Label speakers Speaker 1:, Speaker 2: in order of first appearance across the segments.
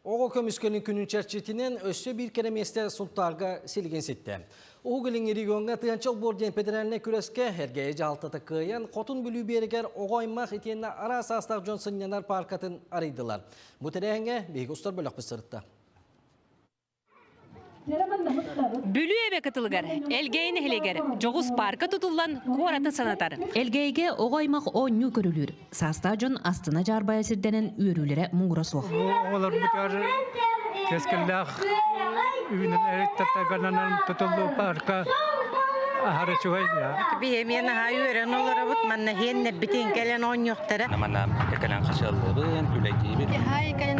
Speaker 1: Оҕо көмүскэлин күнүн чэрчитинэн өссө биир кэрэ миэстэ Сунтаарга силигин ситті. Уһугулин региоҥҥа тыанчал буор диэн федеральнай күрэскэ эргээйи дьаалтата кыайан, Хотун Бүлүү биэрэгэр оҕо аймах итиэннэ араас саастаах дьон сынньанар пааркатын арыйдылар. Бу тэрээһиҥҥэ биһиги устар бөлөхпүт сырытта.
Speaker 2: Бүлүү эбэ кытылыгар, Элгээйи нэһилиэгэр дьоҕус паарка тутуллан куораты санатар. Элгээйигэ оҕо аймах оонньуу көрүлүүр. Саастаах дьон астына-дьаарбайа сирдэнэн үөрүүлэрэ муҥура суох. Оҕолорбутугар
Speaker 3: кэскиллээх үүнэн эриттэтэгананан тутуллуу паарка аһара үчүгэй. Биһиэмиэ наһаа
Speaker 4: үөрэн олоробут, манна сиэннэрбитин кэлэн оонньуохтара. Манна кэлэн
Speaker 5: хачыаллыбын, үлэтиибин. Наһаа кэлэн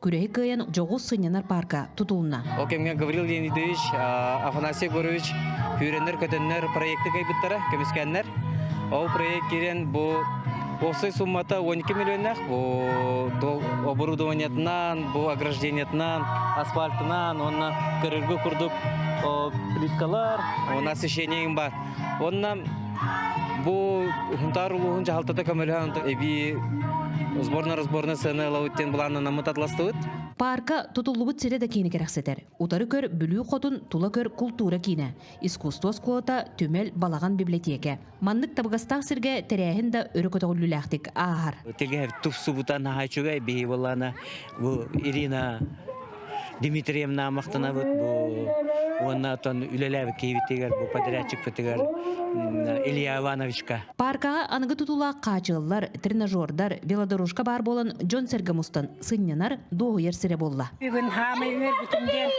Speaker 2: күрэһи кыайан дьоҕус сынньанар паарка тутулунна. Ол кэмҥэ Гаврил
Speaker 5: Леонидович, Афанасий Егорович күүрэннэр-көтөннөр проекты кыйбыттара көмүскэннэр. Ол проект киирэн бу Осой суммата 12 миллионнаах бу оборудованиетынан, бу ограждениетынан, асфальтынан уонна көрөргө курдук плиткалар, у нас еще не имба Уонна бу Хунтаар улууһун дьаһалтата көмөлөһөн эбии сборно-разборнай сыаны ылабыт диэн былааннанаммыт атластыбыт. Паарка
Speaker 2: тутуллубут сирэ да киини кэрэхсэтэр. Утары көр Бүлүү хотун, тула көр култуура киинэ, искусство оскуолата, түмэл, балаҕан библиотека. Маннык табыгастаах сиргэ тэрээһин да өрө көтөҕүллүүлээхтик ааһар. Тэлгэһэр тупсубута
Speaker 5: наһаа үчүгэй биһи буоллаана бу Ирина Дмитрием Намахтанабыт бу уонна оттон үлэлээбит киһибитигэр бу подрядчикпытыгар Илья Ивановичка. Пааркаҕа аныгы
Speaker 2: тутуулаах хаачыллар, тренажердар, велодорожка баар буолан дьон-сэргэ мустан сынньанар, дуоһуйар сирэ буолла. Бүгүн хаамай
Speaker 4: үөрбүтүм диэн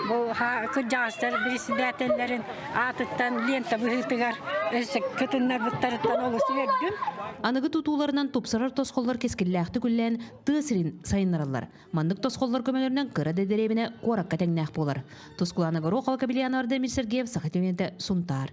Speaker 4: бу кырдьаҕастар председателлэрин аатыттан лента быһыытыгар өссө кытыннарбыттарыттан олус үөрдүм. Аныгы тутууларынан
Speaker 2: тупсарар тосхоллор кэскиллээхтик үллээн тыа сирин сайыннараллар. Маннык тосхоллор көмөлөрүнэн кыра да дэриэбинэ куоракка тэҥнээх буолар. Тускулаана Горохова, Капельянова Дамир Сергеев саха түҥэтэ Сунтаар.